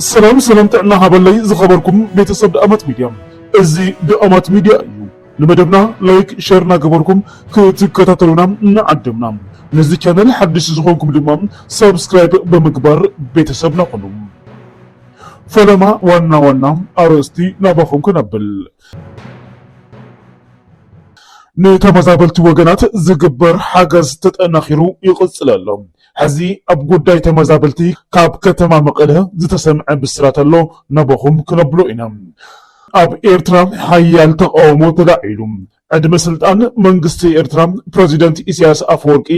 ሰላም ሰላም ጥዕና ሃበለይ ዝኸበርኩም ቤተሰብ ደኣማት ሚድያ እዚ ደኣማት ሚድያ እዩ ንመደብና ላይክ ሸር እናገበርኩም ክትከታተሉና እናዓደምና ነዚ ቻነል ሓድሽ ዝኾንኩም ድማ ሰብስክራይብ ብምግባር ቤተሰብና ኹኑ ፈለማ ዋና ዋና ኣርእስቲ ናባኹም ከነብል ንተመዛበልቲ ወገናት ዝግበር ሓገዝ ተጠናኺሩ ይቕፅል ኣሎ። ሕዚ ኣብ ጉዳይ ተመዛበልቲ ካብ ከተማ መቐለ ዝተሰምዐ ብስራት ኣሎ ናበኹም ክነብሎ ኢና። ኣብ ኤርትራ ሓያል ተቓውሞ ተላዒሉ ዕድመ ስልጣን መንግስቲ ኤርትራ ፕረዚደንት ኢሳያስ ኣፈወርቂ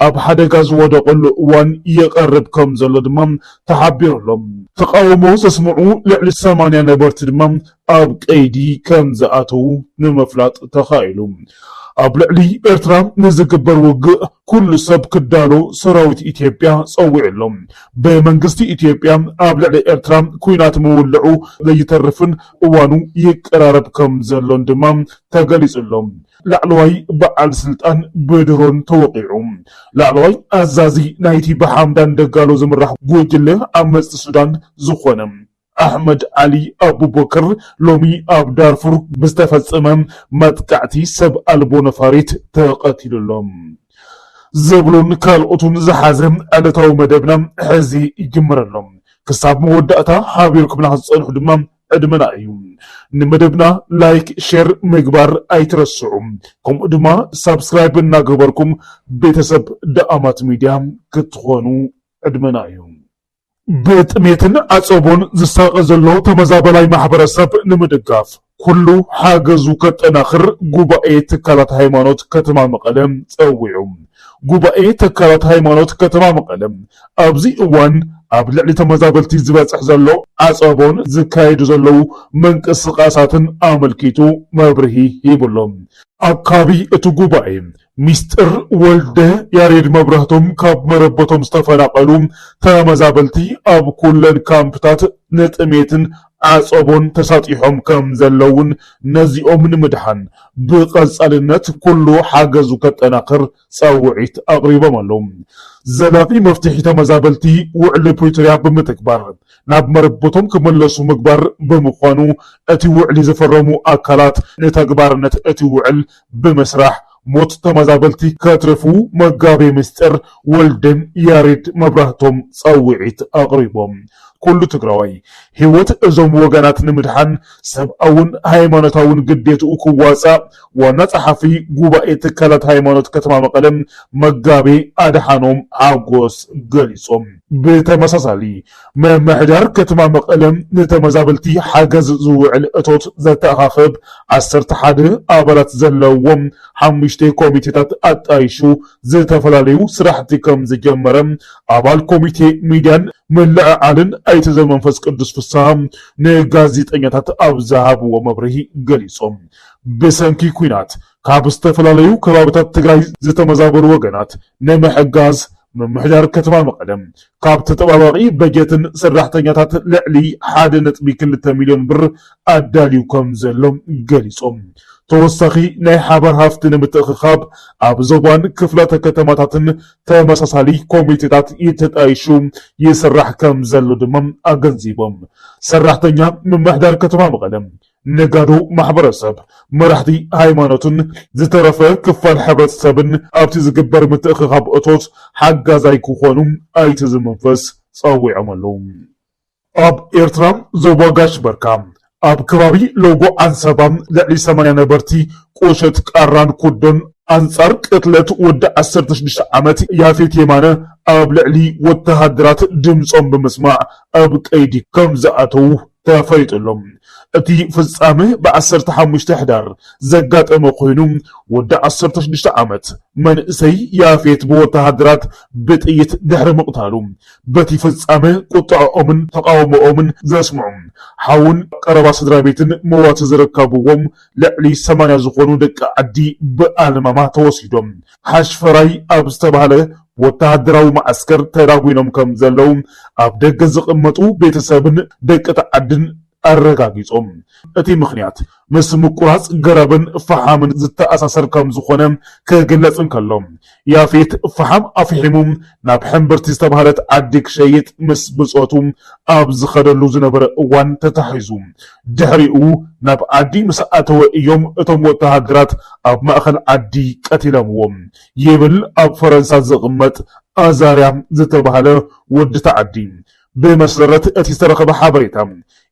ኣብ ሓደጋ ዝወደቐሉ እዋን ይቐርብ ከም ዘሎ ድማ ተሓቢሩ ኣሎ። ተቓውሞ ዘስምዑ ልዕሊ ሰማንያ ነበርቲ ድማ ኣብ ቀይዲ ከም ዝኣተዉ ንምፍላጥ ተኻኢሉ። ኣብ ልዕሊ ኤርትራ ንዝግበር ውግእ ኩሉ ሰብ ክዳሎ ሰራዊት ኢትዮጵያ ጸዊዑ ኣሎ። ብመንግስቲ ኢትዮጵያ ኣብ ልዕሊ ኤርትራ ኲናት ምውልዑ ዘይተርፍን እዋኑ ይቀራረብ ከም ዘሎን ድማ ተገሊጹ ኣሎ። ላዕለዋይ በዓል ስልጣን ብድሮን ተወቒዑ። ላዕለዋይ ኣዛዚ ናይቲ ብሓምዳን ደጋሎ ዝምራሕ ጉጅለ ዓመጽቲ ሱዳን ዝኾነ፣ ኣሕመድ ዓሊ ኣቡበከር ሎሚ ኣብ ዳርፉር ብዝተፈጸመ መጥቃዕቲ ሰብ ኣልቦ ነፋሪት ተቐቲሉ ኣሎ። ዝብሉን ካልኦትን ዝሓዘ ዕለታዊ መደብና ሕዚ ይጅምር ኣሎ። ክሳብ መወዳእታ ሓቢርኩምና ክትጸንሑ ድማ ዕድመና እዩ። ንመደብና ላይክ ሼር ምግባር ኣይትረስዑ። ከምኡ ድማ ሳብስክራይብ እናገበርኩም ቤተሰብ ደኣማት ሚድያ ክትኾኑ ዕድመና እዩ። ብጥሜትን ዓፀቦን ዝሳቐ ዘሎ ተመዛባላይ ማሕበረሰብ ንምድጋፍ ኩሉ ሓገዙ ከጠናኽር ጉባኤ ትካላት ሃይማኖት ከተማ መቐለ ፀዊዑ። ጉባኤ ትካላት ሃይማኖት ከተማ መቐለ ኣብዚ እዋን ኣብ ልዕሊ ተመዛበልቲ ዝበፅሕ ዘሎ ዓፀቦን ዝካየዱ ዘለዉ ምንቅስቓሳትን ኣመልኪቱ መብርሂ ሂቡ'ሎ። ኣካቢ እቲ ጉባኤ ሚስጥር ወልደ፣ ያሬድ መብራህቶም ካብ መረበቶም ዝተፈናቐሉ ተመዛበልቲ ኣብ ኩለን ካምፕታት ንጥሜትን ዓፀቦን ተሳጢሖም ከምዘለውን ነዚኦም ንምድሓን ብቐፃልነት ኩሉ ሓገዙ ከጠናኽር ፃውዒት ኣቕሪቦም ኣለው። ዘላቒ መፍትሒ ተመዛበልቲ ውዕሊ ፕሪቶርያ ብምትግባር ናብ መረበቶም ክምለሱ ምግባር ብምዃኑ እቲ ውዕሊ ዝፈረሙ ኣካላት ንተግባርነት እቲ ውዕል ብምስራሕ ሞት ተመዛበልቲ ከትርፉ መጋቤ ምስጢር ወልደ ያሬድ መብራህቶም ፃውዒት ኣቕሪቦም። ኩሉ ትግራዋይ ህይወት እዞም ወገናት ንምድሓን ሰብኣውን ሃይማኖታውን ግዴትኡ ክዋፃእ ዋና ፀሓፊ ጉባኤ ትካላት ሃይማኖት ከተማ መቐለ መጋቤ ኣድሓኖም ሓጎስ ገሊፆም። ብተመሳሳሊ ምምሕዳር ከተማ መቐለ ንተመዛበልቲ ሓገዝ ዝውዕል እቶት ዘተኣኻኽብ ዓሰርተ ሓደ ኣባላት ዘለዎም ሓሙሽተ ኮሚቴታት ኣጣይሹ ዝተፈላለዩ ስራሕቲ ከምዝጀመረ ኣባል ኮሚቴ ሚድያን ምልዕዓልን ኣይተ ዘመንፈስ ቅዱስ ፍስሃ ንጋዜጠኛታት ኣብ ዝሃብዎ መብርሂ ገሊፆም። ብሰንኪ ኲናት ካብ ዝተፈላለዩ ከባብታት ትግራይ ዝተመዛበሉ ወገናት ንምሕጋዝ ምምሕዳር ከተማ መቐለ ካብ ተጠባባቒ በጀትን ሰራሕተኛታት ልዕሊ ሓደ ነጥቢ ክልተ ሚሊዮን ብር ኣዳልዩ ከም ዘሎ ገሊፆም። ተወሳኺ ናይ ሓባር ሃፍቲ ንምትእኽኻብ ኣብ ዞባን ክፍላተ ከተማታትን ተመሳሳሊ ኮሚቴታት ተጣይሹ ይስራሕ ከም ዘሎ ድማ ኣገንዚቦም። ሰራሕተኛ ምምሕዳር ከተማ መቐለ ነጋዶ ማሕበረሰብ፣ መራሕቲ ሃይማኖትን ዝተረፈ ክፋል ሕብረተሰብን ኣብቲ ዝግበር ምትእኽኻብ እቶት ሓጋዛይ ክኾኑ ኣይት ዝምንፍስ ፀዊዖም ኣለው። ኣብ ኤርትራ ዞባ ጋሽ በርካ ኣብ ከባቢ ሎጎ ዓንሰባ ልዕሊ ሰማንያ ነበርቲ ቁሸት ቃራን ኩዶን ኣንጻር ቅትለት ወዲ ዓሰርተ ሽዱሽተ ዓመት ያፌት የማነ ኣብ ልዕሊ ወተሃደራት ድምጾም ብምስማዕ ኣብ ቀይዲ ከምዝኣተው ተፈሊጡ ኣሎ። እቲ ፍጻመ ብ ዓሰርተ ሓሙሽተ ሕዳር ዘጋጠመ ኮይኑ፣ ወዲ ዓሰርተ ሽዱሽተ ዓመት መንእሰይ ያፌት ብወተሃደራት ብጥይት ድሕሪ ምቕታሉ፣ በቲ ፍጻመ ቁጠዐኦምን ተቓውሞኦምን ዘስምዑ ሓውን ቀረባ ስድራቤትን መዋቲ ዝርከብዎም ልዕሊ ሰማንያ ዝኾኑ ደቂ ዓዲ ብኣልማማ ተወሲዶም ሓሽፈራይ ኣብ ዝተባህለ ወተሃደራዊ መዓስከር ተዳጒኖም ከም ዘለዉ ኣብ ደገ ዝቕመጡ ቤተሰብን ደቂ'ቲ ዓድን ኣረጋጊጾም። እቲ ምኽንያት ምስ ምቁራጽ ገረብን ፈሓምን ዝተኣሳሰር ከም ዝኾነ ክግለጽ እንከሎ፣ ያፌት ፈሓም ኣፍሒሙ ናብ ሕምብርቲ ዝተባህለት ዓዲ ክሸይጥ ምስ ብጾቱ ኣብ ዝኸደሉ ዝነበረ እዋን ተታሒዙ ድሕሪኡ ናብ ዓዲ ምስ ኣተወ እዮም እቶም ወተሃደራት ኣብ ማእኸል ዓዲ ቀቲለምዎ ይብል ኣብ ፈረንሳ ዝቕመጥ ኣዛርያ ዝተብሃለ ወዲ እቲ ዓዲ። ብመሰረት እቲ ዝተረኸበ ሓበሬታ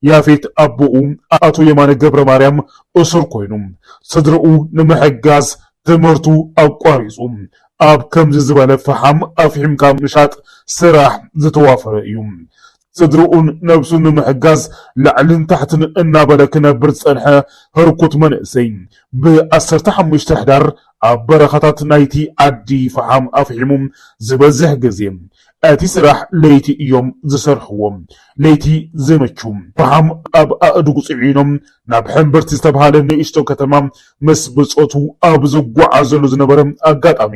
ያፌት ኣቦኡ ኣቶ የማነ ገብረማርያም እሱር ኮይኑ ስድርኡ ንምሕጋዝ ትምህርቱ ኣቋሪፁ ኣብ ከምዚ ዝበለ ፈሓም ኣፍሒምካ ምሻጥ ስራሕ ዝተዋፈረ እዩ። ስድርኡን ነብሱን ንምሕጋዝ ላዕልን ታሕትን እናበለ ክነብር ዝጸንሐ ህርኩት መንእሰይ፣ ብ ዓሰርተ ሓሙሽተ ሕዳር ኣብ በረኻታት ናይቲ ዓዲ ፈሓም ኣፍሒሙ። ዝበዝሕ ግዜ እቲ ስራሕ ለይቲ እዮም ዝሰርሕዎ። ለይቲ ዘይመቹ፣ ፈሓም ኣብ ኣእዱግ ጽዒኖም ናብ ሕምብርቲ ዝተብሃለ ንእሽቶ ከተማ ምስ ብጾቱ ኣብ ዝጓዓዘሉ ዝነበረ ኣጋጣሚ፣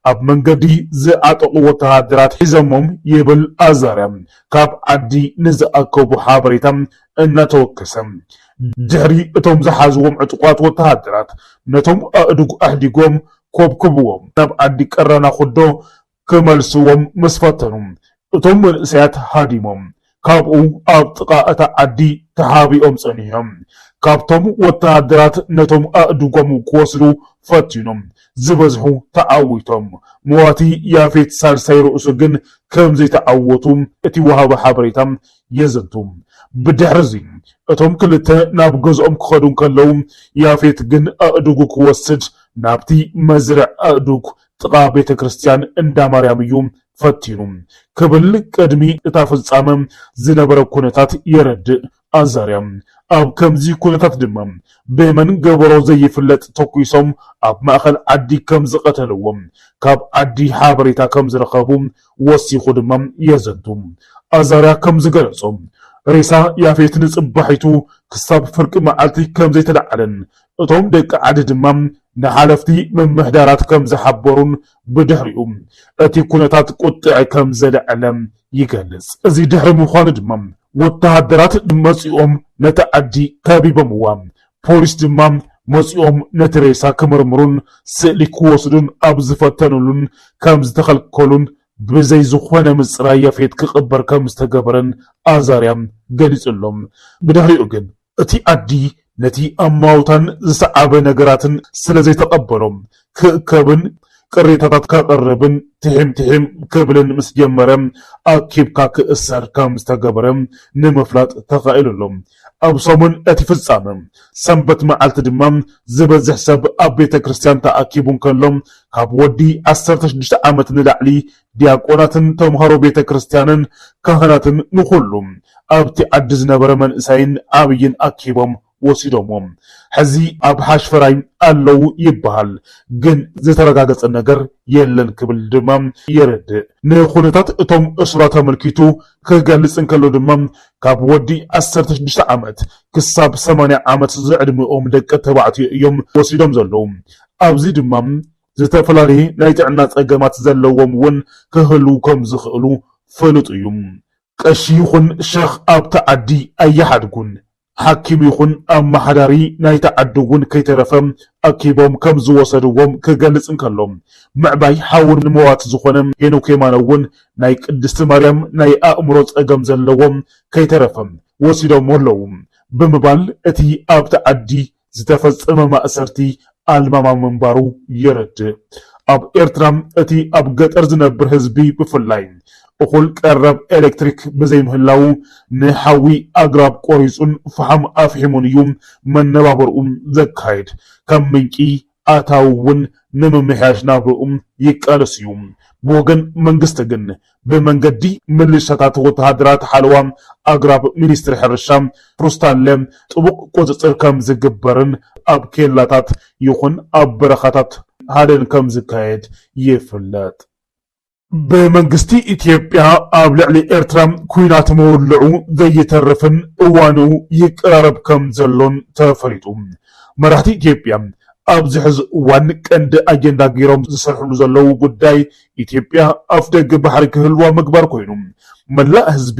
ኣብ መንገዲ ዝዓጠቑ ወተሃደራት ሒዘሞም ይብል ኣዛርያ ካብ ዓዲ ንዝኣከቦ ሓበሬታ እናተወከሰ። ድሕሪ እቶም ዝሓዝዎም ዕጡቓት ወተሃደራት ነቶም ኣእዱግ ኣሕዲጎም ኮብኮብዎም ናብ ዓዲ ቀራና ኩዶ ክመልስዎም ምስ ፈተኑ፣ እቶም መንእሰያት ሃዲሞም ካብኡ ኣብ ጥቓ እታ ዓዲ ተሓቢኦም ጸኒሖም። ካብቶም ወተሃደራት ነቶም ኣእዱጎም ክወስዱ ፈቲኖም ዝበዝሑ ተዓዊቶም፣ መዋቲ ያፌት ሳልሳይ ርእሱ ግን ከም ዘይተዓወቱ እቲ ወሃቢ ሓበሬታ የዘንቱ። ብድሕርዚ እቶም ክልተ ናብ ገዝኦም ክኸዱ እንከለዉ፣ ያፌት ግን ኣእዱጉ ክወስድ ናብቲ መስርዕ ኣእዱግ ጥቓ ቤተ ክርስቲያን እንዳ ማርያም እዩ ፈቲኑ ክብል ቅድሚ እታ ፍጻመ ዝነበረ ኩነታት የረድእ ኣዛርያ። ኣብ ከምዚ ኩነታት ድማ ብመን ገበሮ ዘይፍለጥ ተኲሶም ኣብ ማእኸል ዓዲ ከም ዝቐተልዎ ካብ ዓዲ ሓበሬታ ከም ዝረኸቡ ወሲኹ ድማ የዘንቱ። ኣዛርያ ከም ዝገለጾ ሬሳ ያፌት ንጽባሒቱ ክሳብ ፍርቂ መዓልቲ ከም ዘይተለዓለን እቶም ደቂ ዓዲ ድማ ንሓለፍቲ ምምሕዳራት ከም ዝሓበሩን ብድሕሪኡ እቲ ኩነታት ቁጥዐ ከም ዘለዐለ ይገልጽ። እዚ ድሕሪ ምዃኑ ድማ ወተሃደራት መጺኦም ነታ ዓዲ ከቢቦምዋ፣ ፖሊስ ድማ መጺኦም ነቲ ሬሳ ክምርምሩን ስእሊ ክወስዱን ኣብ ዝፈተንሉን ከም ዝተኸልከሉን ብዘይ ዝኾነ ምጽራይ ያፌት ክቕበር ከም ዝተገበረን ኣዛርያ ገሊጹ ኣሎ። ብድሕሪኡ ግን እቲ ኣድጊ ነቲ ኣማውታን ዝሰዓበ ነገራትን ስለ ዘይተቐበሎ፣ ክእከብን ቅሬታታት ከቕርብን ትሒም ትሒም ክብልን ምስ ጀመረ፣ ኣኪብካ ክእሰር ከም ዝተገበረ ንምፍላጥ ተኻኢሉ ኣሎ። ኣብ ሰሙን እቲ ፍጻመ፣ ሰንበት መዓልቲ ድማ፣ ዝበዝሕ ሰብ ኣብ ቤተ ክርስትያን ተኣኪቡ እንከሎ፣ ካብ ወዲ ዓሰርተ ሽዱሽተ ዓመት ንላዕሊ ዲያቆናትን ተምሃሮ ቤተ ክርስቲያንን ካህናትን ንኹሉ ኣብቲ ዓዲ ዝነበረ መንእሰይን ዓብይን ኣኪቦም ወሲዶምዎም። ሕዚ ኣብ ሓሽፈራይ ኣለዉ ይበሃል፣ ግን ዝተረጋገፀ ነገር የለን ክብል ድማ የረድእ። ንኹነታት እቶም እሱራት ኣመልኪቱ ክገልፅ እንከሎ ድማ ካብ ወዲ ዓሰርተ ሽዱሽተ ዓመት ክሳብ ሰማንያ ዓመት ዝዕድሚኦም ደቂ ተባዕትዮ እዮም ወሲዶም ዘለዉ። ኣብዚ ድማ ዝተፈላለየ ናይ ጥዕና ጸገማት ዘለዎም እውን ክህልዉ ከም ዝኽእሉ ፍሉጥ እዩ። ቀሺ ይኹን ሸኽ ኣብታ ዓዲ ኣይሓድጉን። ሓኪም ይኹን ኣመሓዳሪ ናይታ ዓዲ እውን ከይተረፈ ኣኪቦም ከም ዝወሰድዎም ክገልጽ እንከሎ፣ ምዕባይ ሓዉ ንመዋቲ ዝኾነ ሄኖክ የማነ እውን ናይ ቅድስቲ ማርያም ናይ ኣእምሮ ጸገም ዘለዎ ከይተረፈ ወሲዶሞ ኣለዉ ብምባል እቲ ኣብታ ዓዲ ዝተፈጸመ ማእሰርቲ ኣልማማ ምንባሩ የረድእ። ኣብ ኤርትራ እቲ ኣብ ገጠር ዝነብር ህዝቢ ብፍላይ እኹል ቀረብ ኤለክትሪክ ብዘይምህላዉ ንሓዊ ኣግራብ ቆሪጹን ፈሓም ኣፍሒሙን እዩ መነባብርኡ ዘካይድ ከም ምንጪ ኣታዊ እውን ንምምሕያሽ ናብርኡ ይቃለስ እዩ። ብወገን መንግስቲ ግን ብመንገዲ ምልሻታት ወተሃደራት ሓለዋ ኣግራብ ሚኒስትሪ ሕርሻ ሩስታለ ጥቡቕ ቁፅፅር ከምዝግበርን ኣብ ኬላታት ይኹን ኣብ በረኻታት ሃደን ከምዝካየድ ይፍለጥ። ብመንግስቲ ኢትዮጵያ ኣብ ልዕሊ ኤርትራ ኲናት ምውልዑ ዘይተርፍን እዋኑ ይቀራረብ ከም ዘሎን ተፈሊጡ። መራሕቲ ኢትዮጵያ ኣብዚ ሕዚ እዋን ቀንዲ ኣጀንዳ ገይሮም ዝሰርሕሉ ዘለዉ ጉዳይ ኢትዮጵያ ኣፍደገ ባሕሪ ክህልዋ ምግባር ኮይኑ መላእ ህዝቢ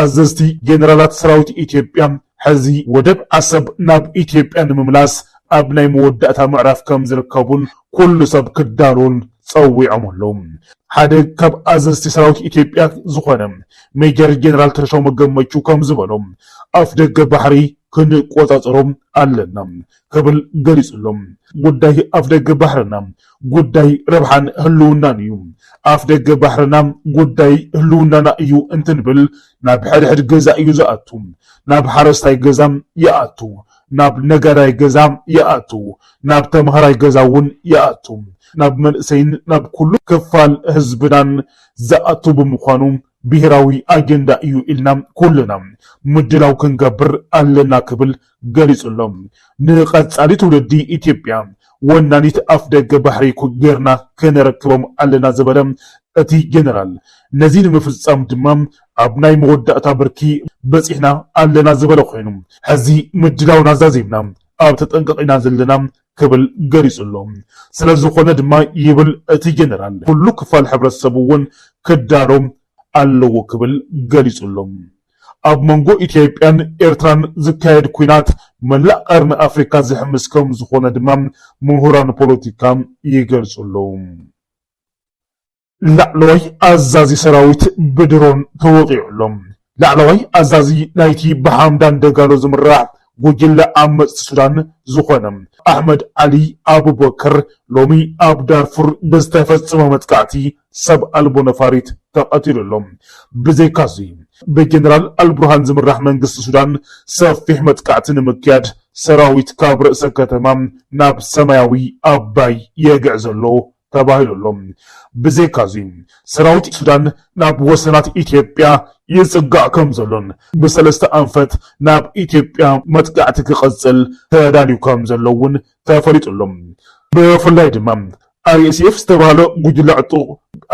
ኣዘዝቲ ጀነራላት ሰራዊት ኢትዮጵያ ሕዚ ወደብ ዓሰብ ናብ ኢትዮጵያ ንምምላስ ኣብ ናይ መወዳእታ ምዕራፍ ከምዝርከቡን ኩሉ ሰብ ክዳሎን ፀዊዖም ኣለው። ሓደ ካብ ኣዘዝቲ ሰራዊት ኢትዮጵያ ዝኾነ ሜጀር ጀነራል ተሾመ ገመቹ ከምዝበሎ ኣፍደገ ባሕሪ ክንቆፃፀሮ ኣለና፣ ክብል ገሊጹ ኣሎ። ጉዳይ ኣፍደገ ባሕርና ጉዳይ ረብሓን ህልውናን እዩ። ኣፍደገ ባሕርና ጉዳይ ህልውናና እዩ እንትንብል ናብ ሕድሕድ ገዛ እዩ ዝኣቱ፣ ናብ ሓረስታይ ገዛ ይኣቱ፣ ናብ ነጋዳይ ገዛ ይኣቱ፣ ናብ ተምሃራይ ገዛ እውን ይኣቱ፣ ናብ መንእሰይን ናብ ኩሉ ክፋል ህዝብናን ዝኣቱ ብምዃኑ ብሄራዊ ኣጀንዳ እዩ ኢልና ኩልና ምድላው ክንገብር ኣለና ክብል ገሊፁ'ሎ። ንቐፃሊ ትውልዲ ኢትዮጵያ ወናኒት ኣፍደገ ባሕሪ ገይርና ከነረክቦም ኣለና ዝበለ እቲ ጀነራል፣ ነዚ ንምፍፃም ድማ ኣብ ናይ መወዳእታ ብርኪ በፂሕና ኣለና ዝበለ ኮይኑ፣ ሕዚ ምድላውና ዛዚምና ኣብ ተጠንቀቕ ኢና ዘለና ክብል ገሊጹ ኣሎ። ስለዝኾነ ድማ ይብል እቲ ጀነራል፣ ኩሉ ክፋል ሕብረተሰብ እውን ክዳሎ ኣለዎ ክብል ገሊጹ ኣሎ። ኣብ መንጎ ኢትዮጵያን ኤርትራን ዝካየድ ኲናት መላእ ቀርኒ ኣፍሪካ ዝሕምስ ከምዝኾነ ድማ ምሁራን ፖለቲካ ይገልጹ ኣለዉ። ላዕለዋይ ኣዛዚ ሰራዊት ብድሮን ተወቒዑ ኣሎ። ላዕለዋይ ኣዛዚ ናይቲ ብሓምዳን ደጋሎ ዝምራሕ ጉጅለ ዓመጽቲ ሱዳን ዝኾነ ኣሕመድ ዓሊ ኣቡበከር ሎሚ ኣብ ዳርፉር ብዝተፈጸመ መጥቃዕቲ ሰብ ኣልቦ ነፋሪት ተቐቲሉ ኣሎ። ብዘይካ'ዚ ብጀነራል ኣልቡርሃን ዝምራሕ መንግስቲ ሱዳን ሰፊሕ መጥቃዕቲ ንምክያድ ሰራዊት ካብ ርእሰ ከተማ ናብ ሰማያዊ ኣባይ የግዕዞ ኣሎ ተባሂሉ ኣሎ። ብዘይካ እዚ ሰራዊት ሱዳን ናብ ወሰናት ኢትዮጵያ ይፅጋዕ ከም ዘሎን ብሰለስተ ኣንፈት ናብ ኢትዮጵያ መጥቃዕቲ ክቕፅል ተዳልዩ ከም ዘሎ እውን ተፈሊጡ ኣሎ። ብፍላይ ድማ RSF ዝተብሃለ ጉጅለ ዕጡቕ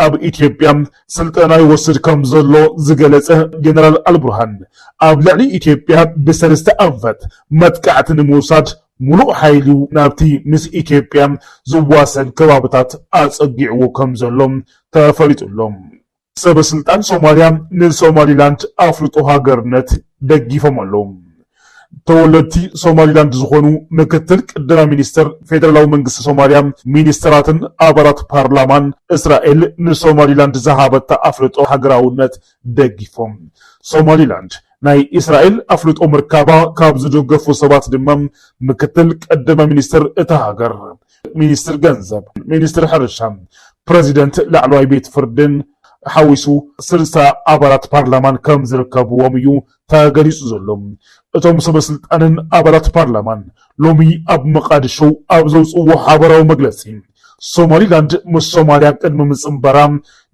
ኣብ ኢትዮጵያ ስልጠና ይወስድ ከም ዘሎ ዝገለፀ ጀነራል ኣልቡርሃን ኣብ ልዕሊ ኢትዮጵያ ብሰለስተ ኣንፈት መጥቃዕቲ ንምውሳድ ሙሉእ ሓይሉ ናብቲ ምስ ኢትዮጵያ ዝዋሰን ከባብታት ኣፀጊዕዎ ከምዘሎ ተፈሊጡ'ሎ። ሰበስልጣን ሶማሊያ ንሶማሊላንድ ኣፍልጦ ሃገርነት ደጊፎም ኣለው። ተወለድቲ ሶማሊላንድ ዝኾኑ ምክትል ቀዳማይ ሚኒስትር፣ ፌደራላዊ መንግስቲ ሶማሊያ፣ ሚኒስትራትን ኣባላት ፓርላማን እስራኤል ንሶማሊላንድ ዝሃበታ ኣፍልጦ ሃገራውነት ደጊፎም ሶማሊላንድ ናይ እስራኤል ኣፍልጦ ምርካባ ካብ ዝድገፉ ሰባት ድማ ምክትል ቀዳማይ ሚኒስትር እታ ሃገር፣ ሚኒስትር ገንዘብ፣ ሚኒስትር ሕርሻ፣ ፕረዚደንት ላዕለዋይ ቤት ፍርድን ሓዊሱ ስልሳ ኣባላት ፓርላማን ከም ዝርከብዎም እዩ ተገሊጹ ዘሎ። እቶም ሰበስልጣንን ኣባላት ፓርላማን ሎሚ ኣብ መቓድሾ ኣብ ዘውጽእዎ ሓበራዊ መግለጺ፣ ሶማሊላንድ ምስ ሶማልያ ቅድሚ ምጽንባራ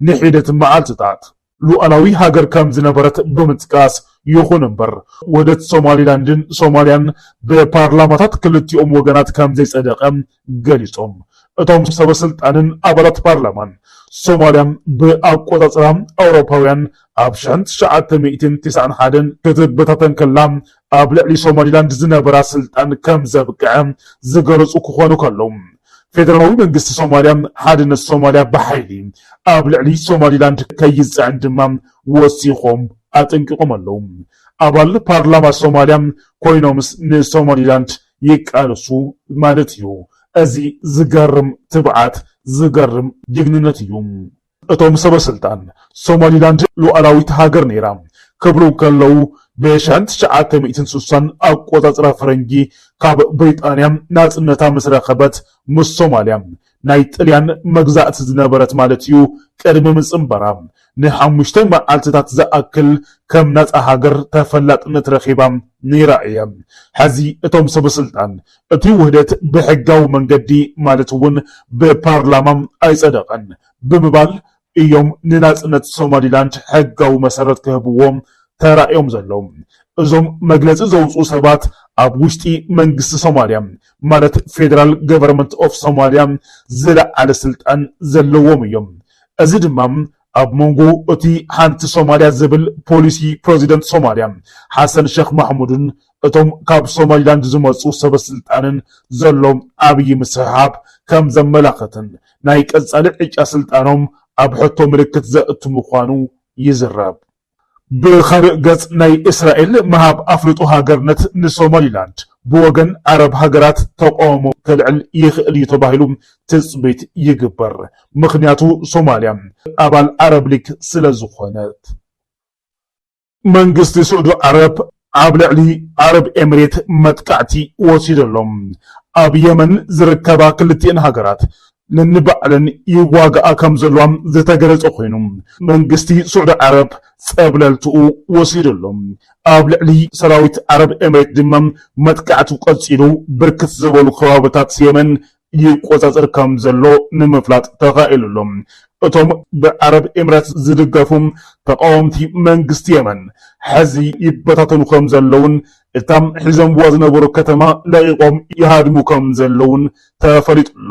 ንሒደት መዓልትታት፣ ሉኣላዊ ሃገር ከም ዝነበረት ብምጥቃስ፣ ይኹን እምበር ውህደት ሶማሊላንድን ሶማልያን ብፓርላማታት ክልቲኦም ወገናት ከም ዘይጸደቐ ገሊጾም። እቶም ሰበስልጣንን ኣባላት ፓርላማን፣ ሶማልያ ብኣቆጻጽራ ኣውሮፓውያን ኣብ ሽሕን ትሽዓተ ሚእትን ቴስዓን ሓደን ክትበታተን ከላ ኣብ ልዕሊ ሶማሊላንድ ዝነበራ ስልጣን ከም ዘብቅዐ ዝገለጹ ክኾኑ ከለው፣ ፌደራላዊ መንግስቲ ሶማልያ ሓድነት ሶማልያ ብሓይሊ ኣብ ልዕሊ ሶማሊላንድ ከይጽዕን ድማ ወሲኾም ኣጠንቂቖም ኣለዉ። ኣባል ፓርላማ ሶማልያ ኮይኖምስ ንሶማሊላንድ ይቃለሱ ማለት እዩ። እዚ ዝገርም ትብዓት፣ ዝገርም ጅግንነት እዩ። እቶም ሰበስልጣን፣ ሶማሊላንድ ሉኣላዊት ሃገር ነይራ ክብሉ እንከለዉ፣ ብሸን ትሽዓተ ሚእትን ስሳን ኣቆጻጽራ ፈረንጂ ካብ ብሪጣንያ ናጽነታ ምስ ረኸበት ምስ ሶማልያ ናይ ጥልያን መግዛእቲ ዝነበረት ማለት'ዩ ቅድሚ ምጽንባራ ንሓሙሽተ መዓልትታት ዝኣክል ከም ናጻ ሃገር ተፈላጥነት ረኺባ ነይራ እያ። ሕዚ እቶም ሰበስልጣን እቲ ውህደት ብሕጋዊ መንገዲ ማለት እውን ብፓርላማ ኣይፀደቐን ብምባል እዮም ንናፅነት ሶማሊላንድ ሕጋዊ መሰረት ክህብዎ ተራእዮም ዘለዉ። እዞም መግለፂ ዘውፅኡ ሰባት ኣብ ውሽጢ መንግስቲ ሶማሊያ ማለት ፌደራል ገቨርመንት ኦፍ ሶማሊያ ዝለዓለ ስልጣን ዘለዎም እዮም። እዚ ድማ ኣብ መንጎ እቲ ሓንቲ ሶማልያ ዝብል ፖሊሲ ፕረዚደንት ሶማልያ ሓሰን ሸኽ ማሕሙድን እቶም ካብ ሶማሊላንድ ዝመጹ ሰበስልጣንን ዘሎ ዓብዪ ምስሕሓብ ከም ዘመላኽትን ናይ ቀጻሊ ዕጫ ስልጣኖም ኣብ ሕቶ ምልክት ዘእቱ ምዃኑ ይዝረብ። ብኻልእ ገፅ ናይ እስራኤል ምሃብ ኣፍልጦ ሃገርነት ንሶማሊላንድ ብወገን ዓረብ ሃገራት ተቓውሞ ከልዕል ይኽእል እዩ ተባሂሉ ትፅቢት ይግበር። ምኽንያቱ ሶማሊያ ኣባል ዓረብ ሊግ ስለዝኾነት። መንግስቲ ስዑዲ ዓረብ ኣብ ልዕሊ ዓረብ ኤምሬት መጥቃዕቲ ወሲዱ ኣሎ። ኣብ የመን ዝርከባ ክልቲኤን ሃገራት ነንባዕለን ይዋግኣ ከምዘለዋ ዝተገለፀ ኮይኑ መንግስቲ ስዑዲ ዓረብ ፀብለልትኡ ወሲዱ ኣሎ። ኣብ ልዕሊ ሰራዊት ዓረብ ኤምሬት ድማ መጥቃዕቱ ቀፂሉ ብርክት ዝበሉ ከባብታት የመን ይቆጻጸር ከምዘሎ ንምፍላጥ ተኻኢሉ ኣሎ። እቶም ብዓረብ ኤምሬትስ ዝድገፉ ተቓወምቲ መንግስቲ የመን፣ ሕዚ ይበታተኑ ከምዘለዉን እታ ሒዞምዋ ዝነበሩ ከተማ ለቒቖም ይሃድሙ ከምዘለዉን ተፈሊጡ ኣሎ።